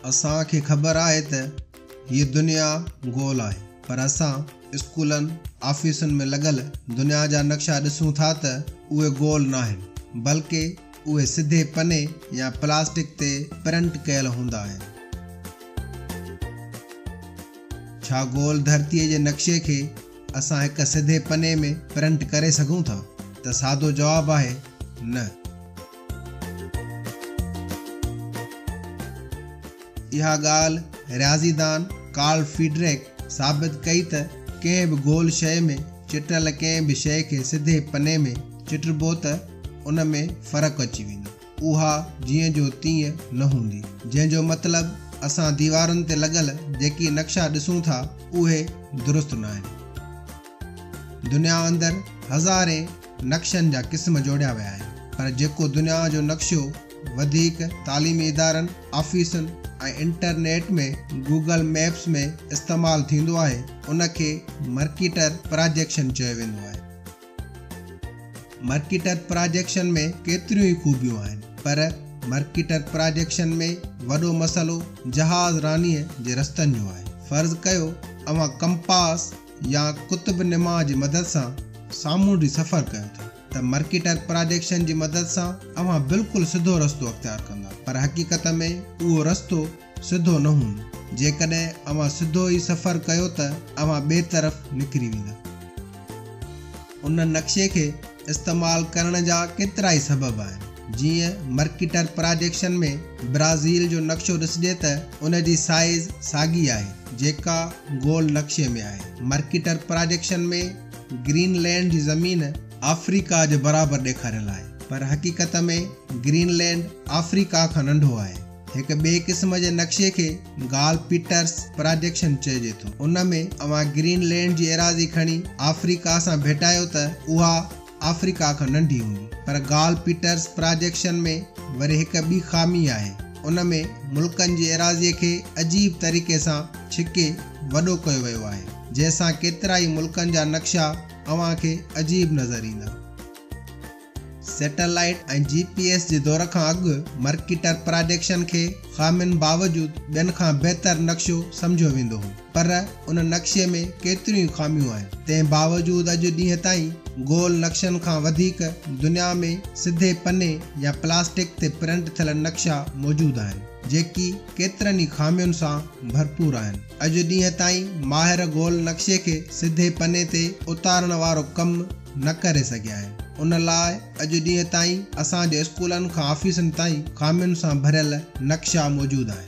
اسان کي خبر آهي ته هيء دنيا گول آهي پر اسان اسڪولن، آفيسن ۾ لڳل دنيا جا نقشا ڏسون ٿا ته اهي گول ناهن بلڪه اهي سڌي پني يا پلاسٽڪ تي پرنٽ ڪيل هوندا آهن. ڇا گول ڌرتيء جي نقشي کي اسان هڪ سڌي پني ۾ پرنٽ ڪري سگهون ٿا؟ ته سادو جواب آهي نه. اها ڳالهه رياضي دان ڪارل فيڊريڪ ثابت ڪئي ته ڪنهن به گول شيء ۾ چٽل ڪنهن به شيء کي سڌي پني ۾ چٽبو ته ان ۾ فرق اچي ويندو. اها جيئن جو تيئن نه هوندي. جنهن جو مطلب اسان ديوارن تي لڳل جيڪي نقشا ڏسون ٿا اهي درست ناهن. دنيا اندر هزارين نقشن جا قسم جوڙيا ويا آهن پر جيڪو دنيا جو نقشو وڌيڪ تعليمي ادارن، آفيسن ۽ انٽرنيٽ ۾ گوگل ميپس ۾ استعمال ٿيندو آهي ان کي مرڪيٽر پراجيڪشن چيو ويندو آهي. مرڪيٽر پراجيڪشن ۾ ڪيتريون ئي خوبيون آهن پر مرڪيٽر پراجيڪشن ۾ وڏو مسئلو جهاز رانيء جي رستن جو آهي. فرض ڪيو اوهان ڪمپاس يا قطب نما جي مدد سان سامونڊي سفر ڪيو ٿا ته مرڪيٽر پراجيڪشن جي مدد سان اوهان بلڪل سڌو رستو اختيار ڪندا پر حقيقت ۾ اهو رستو سڌو نه هوندو. جيڪڏهن اوهان سڌو ئي سفر ڪيو ته اوهان ٻئي طرف نڪري ويندا. ان نقشي کي استعمال ڪرڻ جا ڪيترائي سبب آهن. جيئن مرڪيٽر پراجيڪشن ۾ برازيل جو نقشو ڏسجي ته ان جي سائيز ساڳي آهي جيڪا گول نقشي ۾ آهي. مرڪيٽر پراجيڪشن ۾ گرين لينڊ جي زمين آفريڪا جي برابر ڏيکاريل آهي پر حقيقت ۾ گرين لينڊ آفريڪا کان ننڍو آهي. هڪ ٻئي قسم جي نقشي کي گال پيٽرس پراجيڪشن چئجي ٿو. ان ۾ اوهان گرين لينڊ جي ايراضي کڻي آفريڪا سان ڀيٽايو ته اها آفريڪا کان ننڍي هوندي. پر گال پيٽرس پراجيڪشن ۾ وري هڪ ٻي خامي آهي. ان ۾ ملڪن جي ايراضي کي عجيب طريقي سان ڇڪي وڏو ڪيو ويو آهي. جنهن سان ڪيترائي ملڪن جا نقشا اوهان کي عجيب نظر ايندا. سيٽلائيٽ ۽ جي پي ايس جي دور کان اڳ مرڪيٽر پراڊيڪشن کي خامين باوجود ٻين کان بهتر نقشو سمجهيو ويندو هو پر ان نقشي ۾ ڪيتريون ئي خاميون آهن تنهن باوجود اڄ ڏينهن تائين گول نقشن کان وڌيڪ دنيا ۾ سڌي پني يا پلاسٽڪ تي پرنٽ ٿيل نقشا موجود آهن جيڪي ڪيترن ئي خامين سان ڀرپور آهن اڄ ڏينهن تائين ماهر گول نقشي کي سڌي پني تي اتارڻ وارو ڪم نه ڪري سگهيا آهن ان لاء اڄ ڏينهن تائين اسان جي اسڪولن کان آفيسن تائين خامين سان ڀريل نقشا موجود آهن.